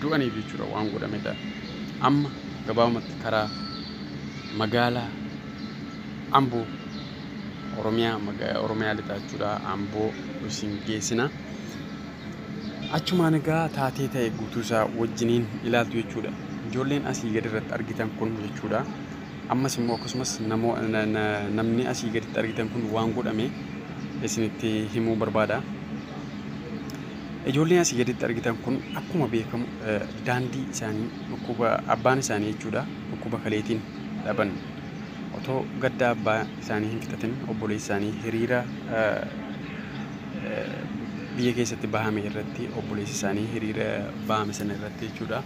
du'aniif jechuudha waan godhamedha. Amma gabaabumatti karaa magaalaa Amboo Oromiyaa maga- Oromiyaa lixaa jechuudha Amboo isin geessina. Achumaan egaa taatee ta'e guutuu isaa wajjiniin ilaaltu jechuudha. Ijoolleen asii gadi irratti argitan kun jechuudha. Ammas immoo akkasumas namoo- na- na- namni asii gaditti argitan kun waan godhame isinitti himuu barbaada. Ijoolleen asii gaditti argitan kun akkuma beekamu daandii isaanii dhukkuba abbaan isaanii jechuudha dhukkuba kaleetiin dhaban otoo gadda abbaa isaanii hin fixatin obboleessi isaanii hiriira biyya keessatti bahame irratti obboleessi isaanii hiriira bahame sana irratti jechuudha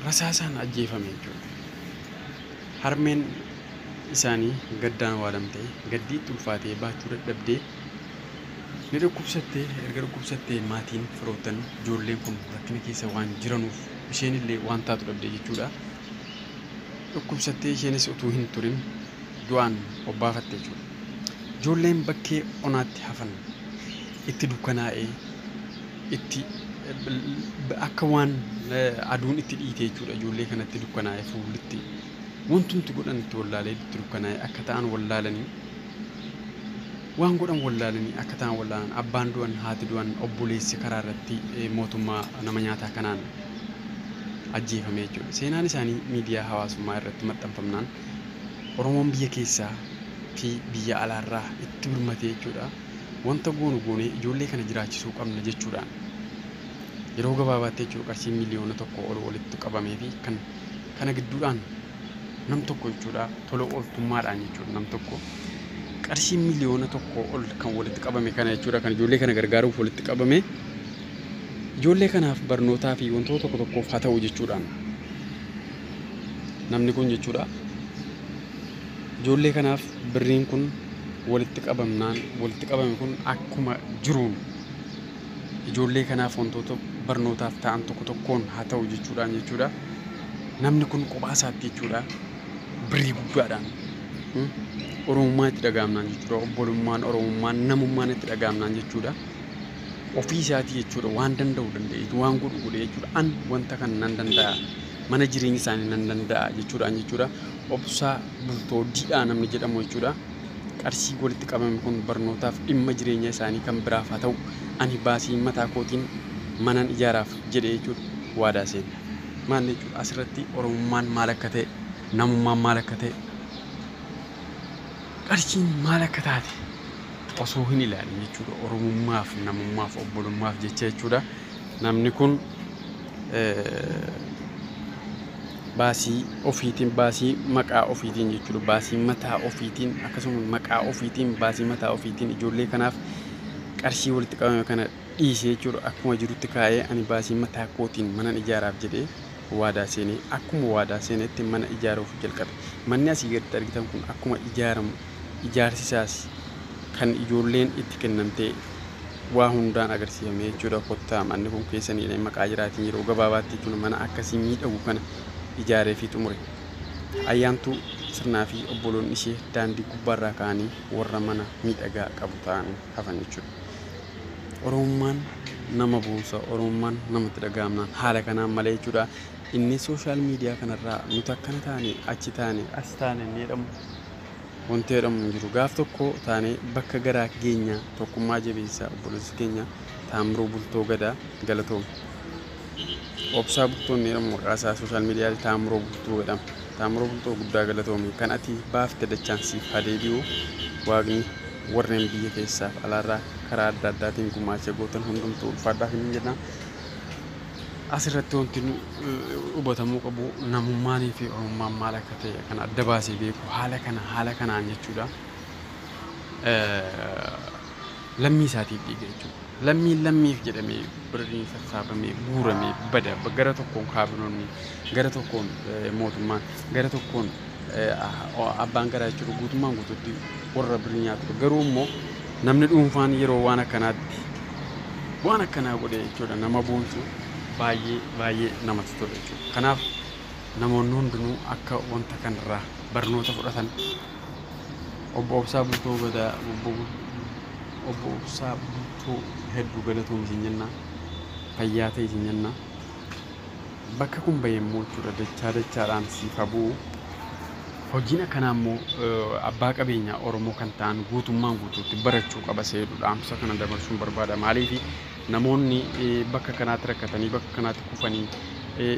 rasaasaan ajjeefame jechuudha. Harmeen isaanii gaddaan waalamtee gaddii itti ulfaatee baachuu dadhabdee Ni dhukkubsatte, erga dhukkubsattee maatiin, firoottan, ijoolleen kun rakkina keessa waan jiranuuf isheenillee waan taatu dhabde jechuudha. Dhukkubsattee isheenis utuu hin turin du'aan obbaafatte jechuudha. Ijoolleen bakkee onaatti hafan itti dukkanaa'ee itti akka waan aduun itti dhiite jechuudha ijoollee kanatti dukkanaa'ee fuullitti wantumti godhan itti wallaalee itti dukkanaa'ee akka ta'an wallaalanii Waan godhan wallaalanii akka ta'an wallaalan. Abbaan du'an, haati du'an, obboleessi karaa irratti mootummaa nama nyaataa kanaan ajjeefame jechuudha. Seenaan isaanii miidiyaa hawaasummaa irratti maxxanfamnaan Oromoon biyya keessaa fi biyya alaarraa itti birmate jechuudha. Wanta goonu goonee ijoollee kana jiraachisuu qabna jechuudhaan yeroo gabaabaatti jechuudha qarshii miliyoona tokkoo ol walitti qabameefi kan kana gidduudhaan nam tokko jechuudha tola ooltummaadhaan jechuudha nam tokko qarshii miliyoona tokko ol kan walitti qabame kana jechuudha kan ijoollee kana gargaaruuf walitti qabame ijoollee kanaaf barnootaa fi wantoota tokko tokkoof haa ta'u jechuudhaan namni kun jechuudha ijoollee kanaaf birriin kun walitti qabamnaan walitti qabame kun akkuma jiruun ijoollee kanaaf wantoota barnootaaf ta'an tokko tokkoon haa ta'u jechuudhaan jechuudha. Namni kun kophaa isaatti jechuudha birrii guddaadhaan hmm, oromummaan itti dhagaamnaan jechuudha obbolummaan oromummaan namummaan itti dhagaamnaan jechuudha. Ofii isaatii jechuudha waan danda'u danda'e waan godhu godhe jechuudha an wanta kana nan danda'a mana jireenya isaanii nan danda'a jechuudhaan jechuudha obsaa bultoo didhaa namni jedhamu jechuudha. Qarshiin walitti qabame kun barnootaaf, dhimma jireenya isaanii kan biraaf haa ta'u, ani baasii mataa kootiin manan ijaaraaf jedhe jechuun waadaa seena. Maal jechuudha? Asirratti Oromummaan maal akka ta'e, namummaan maal akka ta'e, qarshiin maal akka taate osoo hin ilaalin jechuudha. Oromummaaf, namummaaf, obbolummaaf jecha jechuudha. Namni kun eh, baasii ofiitiin baasii maqaa ofiitiin jechuudha baasii mataa ofiitiin akkasumas maqaa ofiitiin baasii mataa ofiitiin ijoollee kanaaf qarshii walitti qabame kana dhiise jechuudha akkuma jirutti kaa'ee ani baasii mataa kootiin manan ijaaraaf jedhee waadaa seenee akkuma waadaa seenetti mana ijaaruuf jalqabe manni asii gaditti argitan kun akkuma ijaaramu Ijaarsi isaas kan ijoolleen itti kennamtee waa hundaan agarsiifame jechuudha. Kottaa manni kun keessaniidha hin maqaa jiraatiin yeroo gabaabaatti jechuudha mana akkasii miidhagu kana ijaaree fi xumure. Ayyaantuu sirnaa fi obboloonni ishee daandii gubbaarraa ka'anii warra mana miidhagaa qabu ta'anii hafan jechuudha. Oromummaan nama boonsa, Oromummaan namatti dhaga'amnaan haala kanaan malee jechuudha. Inni sooshaal miidiyaa kanarraa nuti akkana taane achi taane as taane inni jedhamu Wanti jedhamu hin jiru. Gaaf tokko taanee bakka garaa geenya tokkummaa jabeessa obboleessa keenya Taammiruu Bultoo Gadaa galatoomi. Obsaa Bultoo inni jedhamu maqaa isaa sooshaal miidiyaatti Taammiroo Bultoo jedhama. Taammiroo Bultoo guddaa galatoomi. Kan ati baafte dachaan siif haa deebi'u. Waaqni warreen biyya keessaaf alaarraa karaa adda addaatiin gumaacha gootan hundumtuu ulfaadhaaf hin jedha. Asirratti wanti hubatamuu qabu namummaanii fi oromummaan maal akka ta'e kan adda baasee beeku haala kana haala kanaan jechuudha. Lammii isaatiif dhiiga jechuudha. Lammiin lammiif jedhamee birrii sassaabamee guuramee bada gara tokkoon kaabinoonni gara tokkoon mootummaan gara tokkoon abbaan garaa jechuudha guutummaan guututti warra birrii nyaatudha. Garuu immoo namni dhuunfaan yeroo waan akkanaatti waan akkanaa godhe jechuudha nama boonsu baay'ee baay'ee namatti tola jechuudha. Kanaaf namoonni hundinuu akka wanta kanarraa barnoota fudhatan obbo Obsaa Bultoo Gadaa obbo obbo Obsaa Bultoo hedduu galatoomi isin jenna fayyaa ta'e isin jenna. Bakka kun bahe immoo jechuudha dachaa dachaadhaan siif haa bu'u. Hojiin akkanaa immoo abbaa qabeenyaa Oromoo kan ta'an guutummaan guutuutti barachuu qaba isa jedhu dhaamsa kana dabarsuun barbaada. Maaliif namoonni bakka kanaatti rakkatanii bakka kanaatti kufanii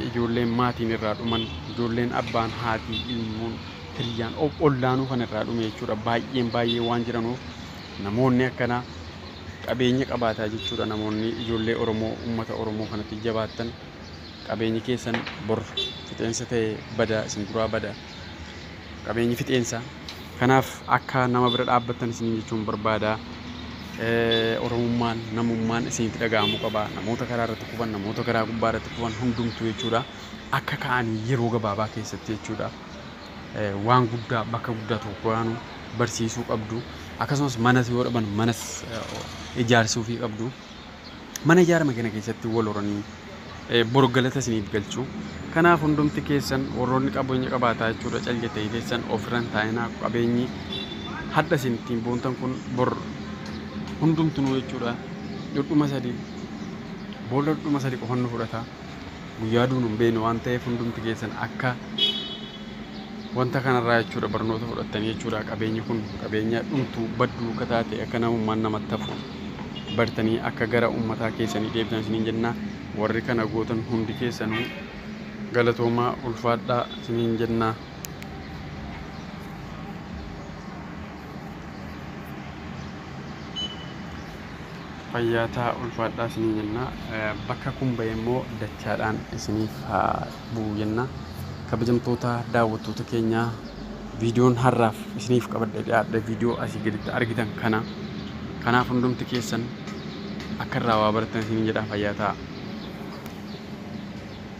ijoolleen maatiin irraa dhuman ijoolleen abbaan haatii ilmoon hiriyaan ollaanuu kan irraa dhume jechuudha. Baay'een baay'ee waan jiranuuf namoonni akkanaa qabeenya qabaataa jechuudha namoonni ijoollee Oromoo uummata Oromoo kanatti jabaattan. Qabeenyi keessan bor fixeensa ta'ee bada, isin duraa bada. Qabeenyi fixeensa. Kanaaf akka nama bira dhaabbattan isiniin jechuun barbaada. Eh, Oromummaan, namummaan isinitti dhaga'amuu qaba. Namoota karaa irratti kufan, namoota karaa gubbaa irratti kufan hundumtuu jechuudha. Akka ka'anii yeroo gabaabaa keessatti jechuudha. Eh, waan guddaa bakka guddaa tokko gaanu barsiisuu qabdu. Akkasumas manas yoo dhaban manas eh, ijaarsuufii qabdu. Mana ijaarame kana keessatti wal horanii eh, bor galata isiniif galchu. Kanaaf hundumti keessan warroonni qabeenya qabaataa jechuudha cal jettanii teessan ofirran taa'inaa qabeenyi hadha isin ittiin boontan kun bor hundumtunuu jechuudha dhudhuma sadii boolla dhudhuma sadii qofan nu fudhata guyyaa duun hin beeknu waan ta'eef hundumti keessan akka Wanta kanarraa jechuudha barnoota fudhattanii jechuudha qabeenyi kun qabeenya dhumtu baddu akka taate akka namummaan namatti hafu bartanii akka gara ummataa keessanii deebitan isiniin jenna warri kana gootan hundi keessanuu galatoomaa ulfaadhaa isiniin jenna. Fayyaataa ulfaadhaa isiniin jenna bakka kun bahee immoo dachaadhaan isiniif haa bu'u jenna. Kabajamtoota daawwattoota keenya viidiyoon har'aaf isiniif qabadhee dhiyaadhe viidiyoo asii gaditti argitan kana. Kanaaf hundumti keessan akka irraa waa barattan isin jedha fayyaa ta'a.